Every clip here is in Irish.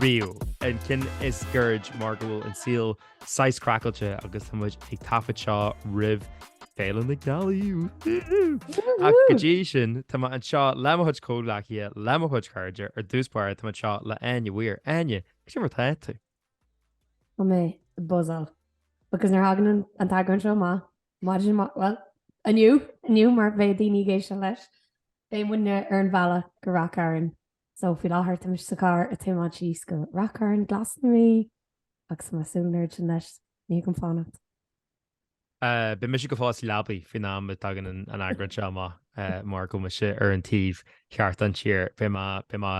riamh. An ceann is goirid mar go bhfuil an saol saghas craiceáilte agus tá muid ag taifead seo roimh Féile na Gealaí, woo-hoo! Ach go dtí sin, tá mé anseo le mo chuid comhghleacaithe, le mo chuid chairde, ar dtús báire tá mé anseo le Áine Weir. Áine, cad é mar atá tú? Tá mé buzzal. Because nuair a thagann an an t-eagrán seo amach, maidin, bhuel, inniu, inniu mar bheadh daoine ag éisteacht leis, beidh muidne ar an bhealach go Ráth Chairn So, faoi láthair, tá mise sa charr ag tiomáint síos go Ráth Chairn Glas na Mí agus tá mé ag súil go mór leis, ní thig liom fanacht. Beidh mise go fóill sa leabaidh faoin am a tagann an t-eagrán seo amach mar go bhfuil mise ar an taobh cheart den tír. Beidh mé, beidh mé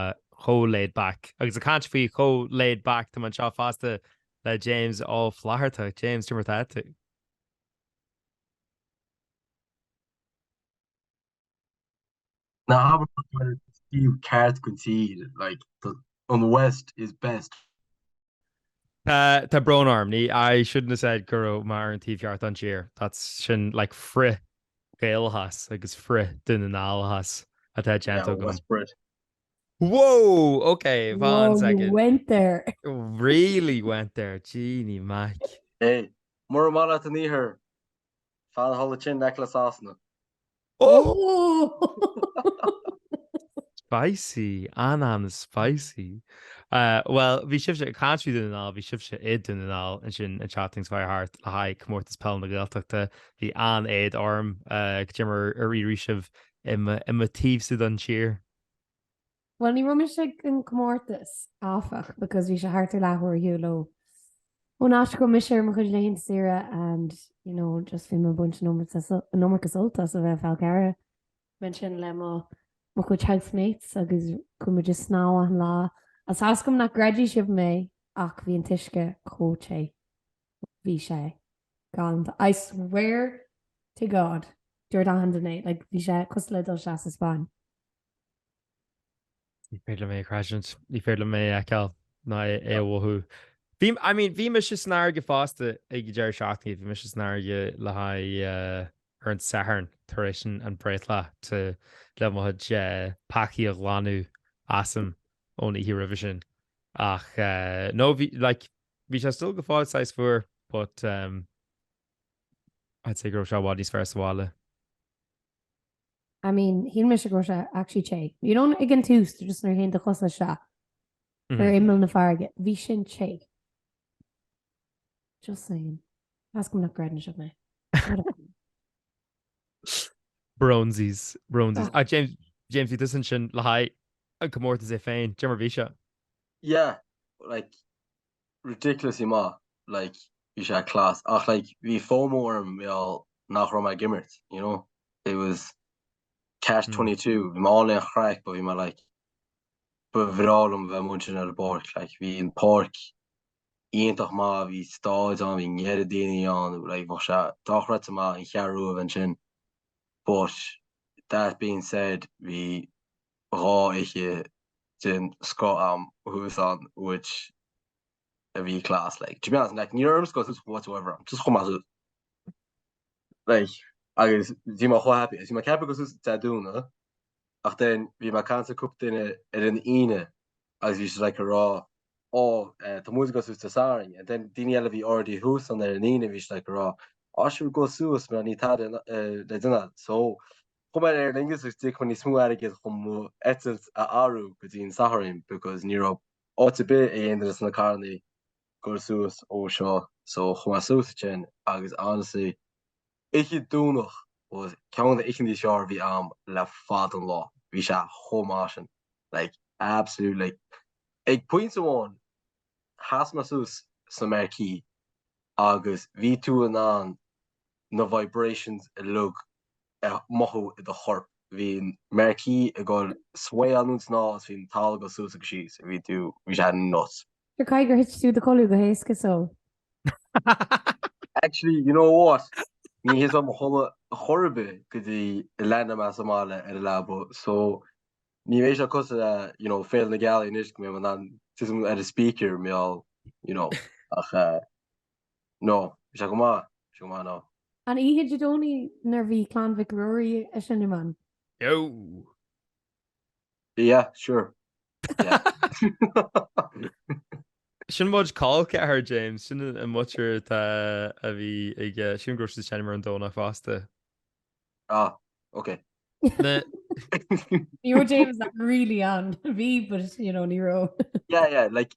chomh laid back agus ag caint faoi chomh laid back, tá mé anseo fosta le James Ó Flatharta. James, cad é mar atá tú. Ná habair taobh ceart den tír, like an west is best. Tá, tá brón orm, ní, I shouldn't have said go raibh mé ar an taobh cheart den tír, that's, sin like frith Gaelachas agus frith Dún na nGall achas atá déanta agam. Yeah, West Brit. Whoa! Ok, one second. Whoa, you went there! Really went there, Jeanny Mac. Hey, mura maith leat an iarthar, Fan thall i d'aice le Sasana. Spicy, an-an-spicy! Bhuel, bhí sibhse ag caint faoi Dún na nGall, bhí sibhse i Dún na nGall ansin an tseachtain seo thart le haghaidh Comórtas Peile na Gaeltachta. Bhí an-éad orm cad é mar a d'éirigh libh i mo thaobhsa don tír. Bhuel, ní raibh mise ag an gcomórtas, áfach, because bhí sé thart ar leathuair de shiúl ón áit a raibh mise ar mo chuid laethanta saoire and, you know, just bhí mé ag baint an iomarca sult as a bheith ar an Fhál Carrach. Bhí mé ansin le mo mo chuid housemates agus chuaigh muid ag snámh achan lá. Is tá a fhios agam nach gcreidfidh sibh mé ach bhí an t-uisce chomh te, bhí sé galánta, I swear to God, dúirt achan duine é, like, bhí sé cosúil le dul isteach sa Spáinn. Ní féidir liom é a chreidiúint. Ní féidir liom é a fheiceáil ná é a mhothú. Bhí, I mean, bhí mise san fharraige fosta ag an deireadh seachtaine, bhí mise san fharraige le haghaidh, ar an Satharn tar éis an bhreithlá te le mo chuid peacaí a ghlanadh asam ón oíche roimhe sin. Ach no, bhí, like, bhí sé still go fóill saghas fuar but I'd say go raibh sé i bhfad níos fearr sa bhaile. I mean, shíl mise go raibh sé actually te. You know ag an tús just nuair a théann do chosa isteach ar imeall na farraige, bhí sin te. Just saying. Measaim nach gcreideann sibh mé. Bronzies, bronzies. Ach James, James, bhí tusa ansin le haghaidh an comórtas é féin, dé mar a bhí sé. Yeah, like, ridiculously maith like bhí sé class ach like bhí fomo orm mar gheall nach raibh mé ag imirt you know it was catch twenty two bhí mé ann le haghaidh an chraic but bhí mé like ba bhreá liom bheith amuigh ansin ar an bpáirc like bhí an páirc iontach maith bhí staid ann bhí neart daoine ann like bheadh sé dochreidte maith an Cheathrú Rua a bheith ansin but that being said bhí dhá oíche den scoth a'm thuas ann which a bhí class like, to be honest like ní raibh mé ag dul suas whatsoever ar dtús, just chuaigh mé suas like agus bhí mé chomh happy, bhí mé ag ceapadh dul suas Dé Domhnaigh ach then bhí mé ag caint le cúpla duine ar an Aoine agus bhí siad like ag rá ó tá muid ag dul suas Dé Sathairn and then daoine eile a bhí already thuas ann ar an Aoine bhí siad like ag rá á sure gabh suas mar níl tada le déanamh a'd so chuaigh mé ar Aer Lingus agus d'íoc mé níos mó airgid chun mo eitilt a athrú go dtí an Sathairn because ní raibh áit ar bith ag aon duine sna carrannaí ag dul suas ó seo so chuaigh mé suas ansin agus honestly oíche Domhnach was ceann de na hoícheantaí is fhearr a bhí a'm le fada an lá, bhí sé chomh maith sin like absolute like ag pointe amháin sheas mé suas sa marquee agus bhí tú in ann na vibrations uilig a mhothú i do chorp. Bhí an marquee ag dul sway anonn is anall is bhí an talamh ag dul suas agus síos. Bhí tú, bhí sé nuts. Sure, caithfidh gur thit tú i do chodladh go héasca so. Actually, you know what? Ní thit mé i mo chodladh chor ar bith go dtí a land mé sa mbaile ar an leaba so ní bheidh sé cosúil le, you know, Féile na Gealaí anois go mbeidh mé in ann titim ar an speaker, mar gheall, you know, ach eh. No. Bhí sé go maith. Bhí sé go maith, no. An oíche Dé Domhnaigh nuair bhí Clann Mhic Ruairí ag seinm ann? No. Yeah, sure. Yeah. Sin mo chuid col ceathar James, sin an muintir atá a bhí ag eh, sin go raibh siad ag seinm ar an Domhnach fosta. Ah, ok. Na. Ní raibh James really ann, bhí but you know ní raibh. Yeah, yeah, like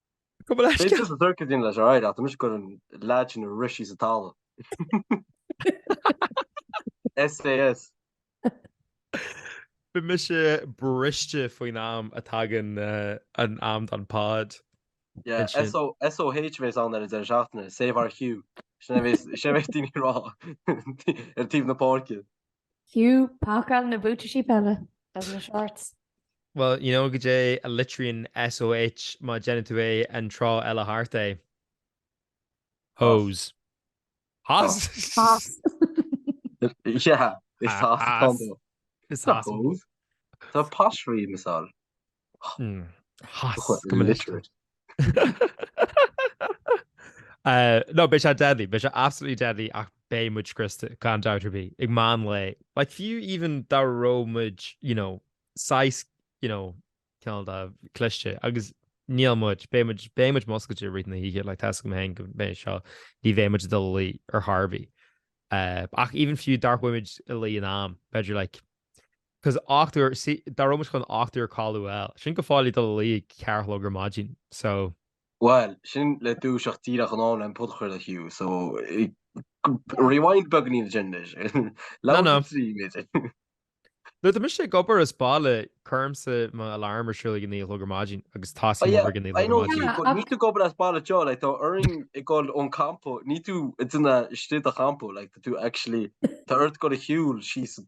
Go bhfuil aiste. Bíonn tusa duirce daoine leis alright ach, anois gur an leaid sin a rith síos sa talamh. SAS. Beidh mise briste faoin am a dtagann an am don pod. Yeah, SOH a bhéas ann ar an deireadh seachtaine, save our Hugh. Sin a bhéas, sin a bhéas daoine ag rá ar taobh na páirce. Hugh, pacáil na buataisí peile agus na shorts. Bhuel, you know, goidé a litríonn SOH má dhéanann tú é an treo eile thart é? Hose. Hos? Hos. Yeah, it's hos atá ann dó. It's hos. It's a posh read, mise. Hos. I'm illiterate. No, beidh sé deadly, beidh sé absolutely deadly ach beidh muid scriosta, gan dabht ar bith, ag meán lae. Like fiú even dá raibh muid, you know, wise, you know, cineál de cliste agus níl muid, beidh muid, beidh muid múscailte i rith na hoíche, like tá 's agam féin go mbeidh, so, ní bheidh muid ag dul a luí ar Harvey. Ach even fiú dá mbeadh muid a luí in am, b'fhéidir like 'Cause ocht n-uaire, see, dá raibh muid chun ocht n-uaire a chodladh, bhuel, sin go fóill ag dul a luí ag ceathair a chlog ar maidin, so. Bhuel, sin le dúiseacht díreach in am le an podchraoladh Hugh, so, rewind beagainín ansin anois. Labhair faoi thrí, a Bhidí. Nuair atá mise ag obair as baile, cuirimse mo alarm ar siúl ag a naoi a chlog ar maidin agus tosaím obair ag a naoi a chlog ar maidin. Yeah, I know, níl tú ag obair as baile though, like, tá orainn dul on campo, níl tú in a state of campo, like, tá tú actually, tá ort dul a shiúl síos an.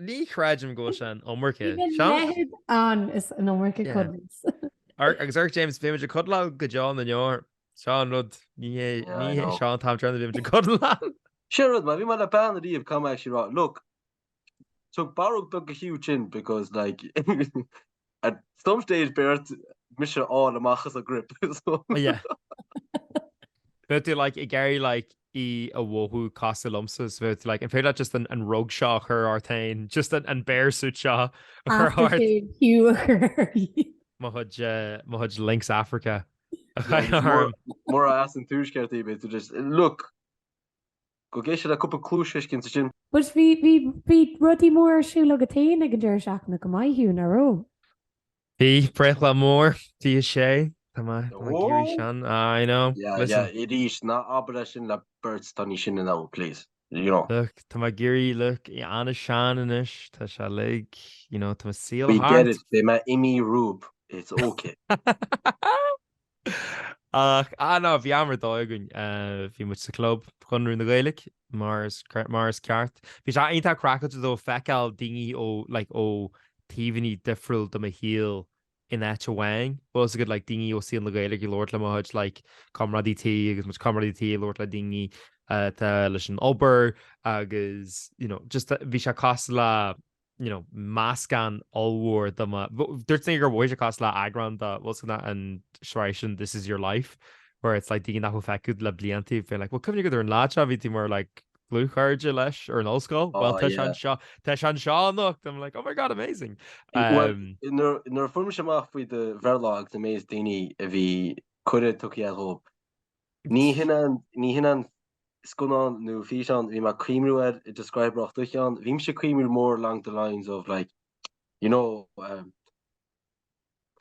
Ní chreidim go bhfuil sé an iomarca craic ann is an iomarca cuddles. Agus, ach James, bhí muid ag cuddleáil go deo na ndeor. Seo an rud ní hé seo an t-am tráthnóna bhí muid ag cuddleáil. Sin rud mar beidh mé like an dtig liom actually right look tug barróg do Hugh ansin because like At some stage beidh ort mise a fháil amach as do ghrip so. Oh yeah. Bheadh tú like ag éirí like ag mothú cosúil liomsa so bheadh tú like an féidir leat just an an rug seo a chur ort féin just an an bear suit seo a chur ort. Aftershave fiú a chur ort. Mo chuid eh, mo chuid Lynx Africa a Yeah, chur just orm. murab murab as an tuaisceart í beidh tú just, look! Go Guys & Dolls le cúpla cluais cinnte is sin. But bhí, bhí, bhí rudaí mór ar siúl agat fhéin ag an deireadh seachtaine go maith Hugh, nach raibh? Bhí, breithlá mór, fiche sé, tá mé, tá mé ag éirí Ó! sean, ah, you know, Yeah, listen. yeah, arís, ná abair é sin le beirt atá níos sine ná thú, please, you know. Look, tá mé ag éirí, look, an-sean anois, tá sé uilig, you know, tá mo saol We get thart. it, beidh mé i mo rób, it's okay. Ach ah ná bhí am ar dóigh againn, bhí muid sa Chlub Chonradh na Gaeilge mar is mar is ceart. Bhí sé iontach craiceáilte though feiceáil daoine ó like ó taobhainní difriúil de mo shaol in áit amháin. Bhí siad like daoine ó saol na Gaeilge ag labhairt le mo chuid like comrádaí tí agus mo chuid comrádaí tí ag labhairt le daoine atá leis an obair agus you know just bhí sé cosúil le you know, meascán ollmhór de mo, dúirt mé gur mhothaigh sé cosúil le eagrán de bhfuil a fhios agat an sraith sin This is your life where it's like daoine nach bhfuil feicthe agat le blianta féin like, well cuimhnigh go dtí ar an lá seo bhí tú mar like dlúthchairde leis ar an ollscoil oh, well tá sé anseo tá sé anseo anocht I'm like oh my god amazing um, nuair a fuair mise amach faoi do bhreithlá agus an méid daoine a bhí cuireadh tugthaí dhóib Ní hionann scannán nó físeán, bhí mé ag cuimhniú air, i describe rough duit ann, bhí mise ag cuimhniú more along the lines of like, you know, um,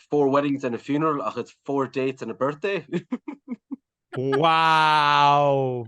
four weddings and a funeral ach it's four dates and a birthday! Wow!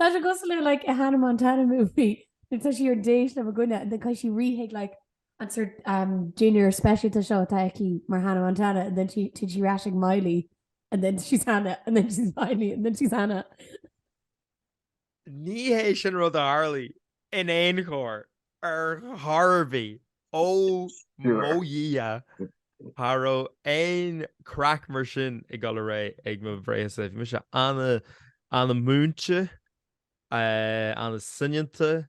Tá sé cosúil le like a Hannah Montana movie. Like tá sí ar déis le goine and then tá sí ríhéig like an sort um, junior speisialta seo tá aici mar Hannah Montana and then she did she rash ag Miley and then she's Hannah and then she's Miley and then she's Hannah. Ní hé sin rud a tharlaigh in aon chor ar chor ar bith. Ó mo Dhia, cha raibh aon chraic mar sin ag dul ar aghaidh ag mo bhreithlá-sa. Bhí mise ana-múinte, ana-soineanta.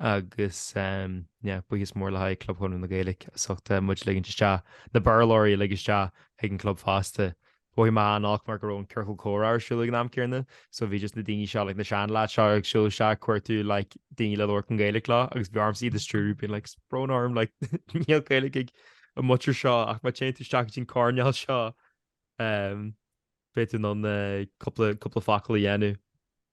agus yeah, buíochas mór le haghaidh Club Chonradh na Gaeilge as ucht muid ligint isteach na Béarlóirí uilig isteach ag an gclub fosta. Mhothaigh mé an-olc mar go raibh an ciorcal comhrá ar siúl ag an am céanna so bhí just na daoine seo, like na seanleaids seo ag siúl isteach ag cuartú like daoine le labhairt Gaeilge leo agus bhí ormsa iad a stiúrú being like is brón orm like níl Gaeilge ag an muintir seo ach má téann tú isteach go dtí an coirnéal seo féadfaidh tú cúpla focal a dhéanamh.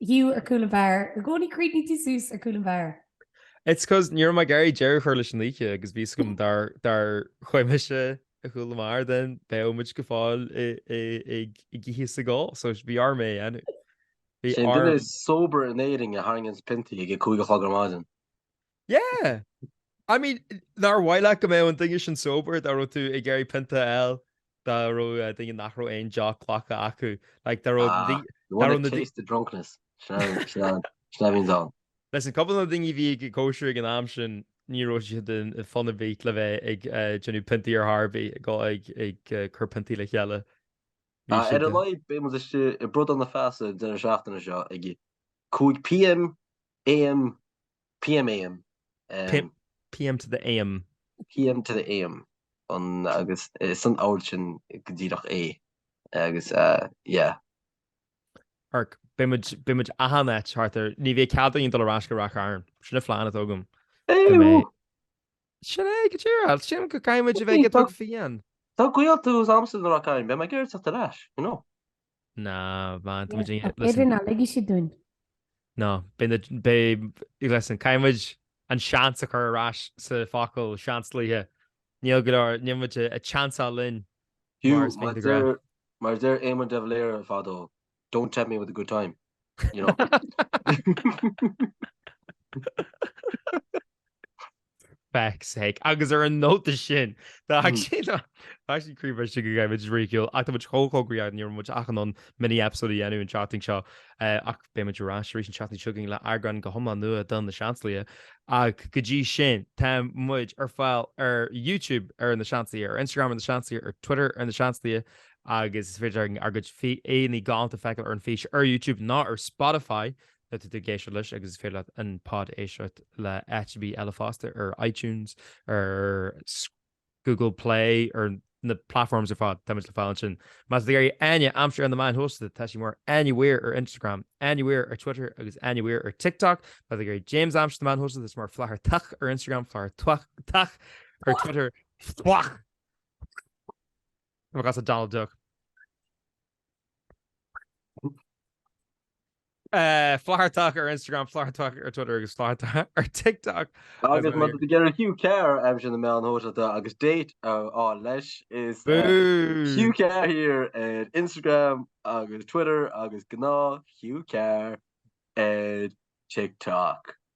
Hugh ar chúl an bheáir. I gcónaí críochnaíonn tú suas ar chúl an bheáir. It's because ní raibh mé ag iarraidh deireadh a chur leis an oíche agus bhí a fhios agam dá rachainnse ar chúl an bheáir then bheadh muid go fóill ag ithe is ag ól so bhí orm é a dhéanamh. Bhí orm. Sé an duine is sober in Éirinn a tharraingíonns piontaí ag a cúig a chlog ar maidin. Yeah! I mean, nár mhaith leat go mbeadh an duine sin sober dá raibh tú ag iarraidh pionta a fháil dá raibh duine nach raibh aon deoch glactha acu? Like, dá raibh Ah, dí- you dá want raibh a na dí- taste of drunkness. Sin é- sin é an- sin é a bhíonns ann. Listen, cúpla de na daoine a bhí ag an gcóisir ag an am sin, ní raibh siad in in fun a bheith le bheith ag eh, déanamh piontaí ar chor ar bith, ag go- ag ag eh, cur piontaí le chéile. Bhí Ah, ar siad a eh, laghad beidh muid istigh i mBradán Feasa an deireadh seachtaine seo ag 5 pm, am, PM AM. PM to the AM. PM to the AM agus ar an ábhar sin go díreach é agus yeah. Arc, Beidh muid, beidh muid achan áit thart ar, ní bheidh cead againn dul ar ais go Ráth Chairn. Sin an plean atá agam. Ew! Sin é, go díreach, sin go gcaithfidh muid a bheith iontach fiáin. Tá gaolta thuas agamsa i Ráth Chairn, beidh mé ag iarraidh teacht ar ais, you know. Ná, bhain, tá muid ag Ach céard ar ná ligfidh siad dúinn? Ná, beidh, listen, caithfidh muid an seans a chur ar ais sa focal Seansálaithe. Níl go leor, níl muid ag seansáil linn, mar is mian do ghrá. Hugh, mar a deir Éamon de Valera fadó, don't tempt me with a good time, you know. feck's sake. Agus ar an nóta sin, tá ag sé ná tá sí críomh istigh go gaibh, which is really cool. Ach tá muid chomh chomh gnóthach, ní raibh muid ach in ann mini episode a dhéanamh an tseachtain seo, ach beidh muid ar ais arís an tseachtain seo againn le eagrán go hiomlán nua de Na Seansálaithe. Ach go dtí sin, tá muid ar fáil ar YouTube ar Na Seansálaithe, ar Instagram ar Na Seansálaithe, ar Twitter ar Na Seansálaithe, agus is féidir ár gcuid aghaidheanna galánta a fheiceáil ar an fís ar YouTube nó ar Spotify. Tá tú ag éisteacht leis agus is féidir leat an pod a éisteacht le áit ar bith eile fosta, ar iTunes, ar Google Play, ar na platforms ar fad táimid le fáil ansin. Má tá tú ag iarraidh Áine a aimsiú ar na meáin shóisialta, tá sí mar Áine Mhaoir ar Instagram, Áine Mhaoir ar Twitter agus Áine Mhaoir ar TikTok. Má tá tú ag iarraidh James a aimsiú ar na meáin shóisialta, is mar Flathartach ar Instagram, Flather Twach Tach ar Twitter. Twach! Tá mé as a Donald Duck. Flathartach ar Instagram, flathartach ar Twitter agus flathartach ar TikTok. Agus má tá tú ag iarraidh Hugh Carr a aimsiú ar na meáin shóisialta agus date a fháil leis, is Hugh Carr here ar Instagram agus Twitter agus gnáth Hugh Carr ar TikTok.